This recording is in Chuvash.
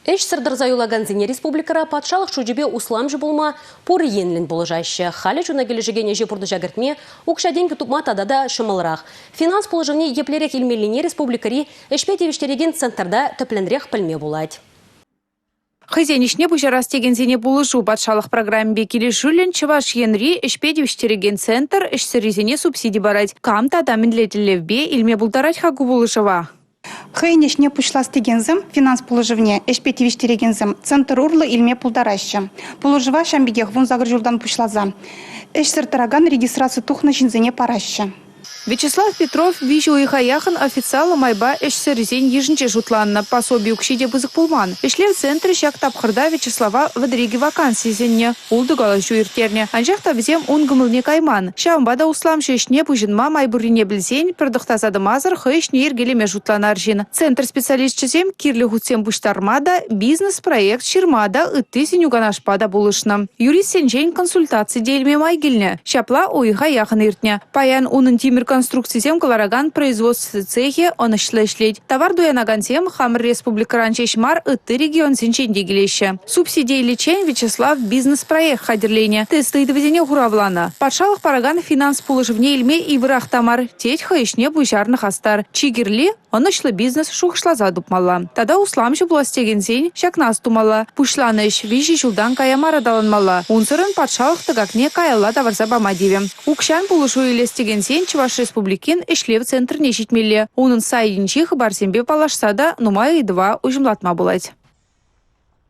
Ӗҫсӗр тӑрса юлакансене республикӑра патшалӑх шучӗпе усламҫӑ пулма пур енлӗн пулӑшаҫҫӗ. Халӗ чуна килӗшекен ӗҫе пурнӑҫа кӗртме укҫа-тенкӗ тупма тата та ҫӑмӑлрах. Финанс пулӑшӑвне еплерех илмеллине республикӑри ӗҫпе тивӗҫтерекен центрта тӗплӗнрех пӗлме пулать. Хӑйсен ӗҫне пуҫарас текенсене пулӑшу патшалӑх программипе килӗшӳллӗн Чӑваш Енри ӗҫпе тивӗҫтерекен центр ӗҫсӗррисене субсиди парать. Кам тата мӗнле тӗллевпе илме пултарать-ха ку пулӑшӑва? Хӑйӗн ӗҫне пуҫлас текенсем финанс пулӑшӑвне ӗҫпе тивӗҫтерекенсем центр урлӑ илме пултараҫҫӗ. Пулӑшӑва ҫавӑн пекех вунсакӑр ҫултан пуҫласа ӗҫсӗр тӑракан регистраци тухнӑ ҫынсене параҫҫӗ. Вячеслав Петров виҫӗ уйӑха яхӑн официаллӑ майпа ӗҫсӗррисен йышӗнче шутланнӑ, пособи укҫи те пысӑк пулман. Ӗҫлев центрӗ ҫак тапхӑрта Вячеслава вӗдрикӗ ваканси сӗннӗ. Ултӑ калаҫу ирттернӗ, анчах та вӗсем ун кӑмӑлне кайман. Ҫавӑнпа та усламҫӑ ӗҫне пуҫӑнма май пуррине пӗлсен пӗр тӑхтаса тӑмасӑр хӑй ӗҫне йӗркелеме шутланар ҫын. Центр специалисчӗсем кирлӗ хутсем пуҫтарма та, бизнес-проект ҫырма та, ытти сӗнӳ-канашпа та пулӑшнӑ. Юристсенчен консультаци те илме май килнӗ. Ҫапла уйӑха яхӑн иртнӗ. Паян унӑн тимӗр конструкцисем кӑларакан производство цехӗ ӑнӑҫлӑ ӗҫлет. Тавар туянакансем хамӑр республикӑран ҫеҫ мар, ытти регионсенчен те килеҫҫӗ. Субсидийличчен Вячеслав бизнес-проект хатӗрленӗ, тест ыйтӑвӗсене хуравланӑ. Патшалӑх паракан финанс пулӑшӑвне илме йывӑрах та мар, тет хӑй ӗҫне пуҫарнӑ хастар. Чи кирли ӑнӑҫлӑ бизнес шухӑшласа тупмалла. Тата усламҫӑ пулас текенсен ҫакна астумалла. Пуҫланӑ ӗҫ виҫӗ ҫултан кая мар аталанмалла. Унсӑрӑн патшалӑх тӑкакне каялла тавӑрса пама тивӗ. Укҫан пулӑшу илес текенсен Чӑваш Республикин ӗҫлев центрне ҫитмелле. Унӑн сайтӗнчи хыпарсемпе паллашса та нумай ыйтӑва уҫӑмлатма пулать.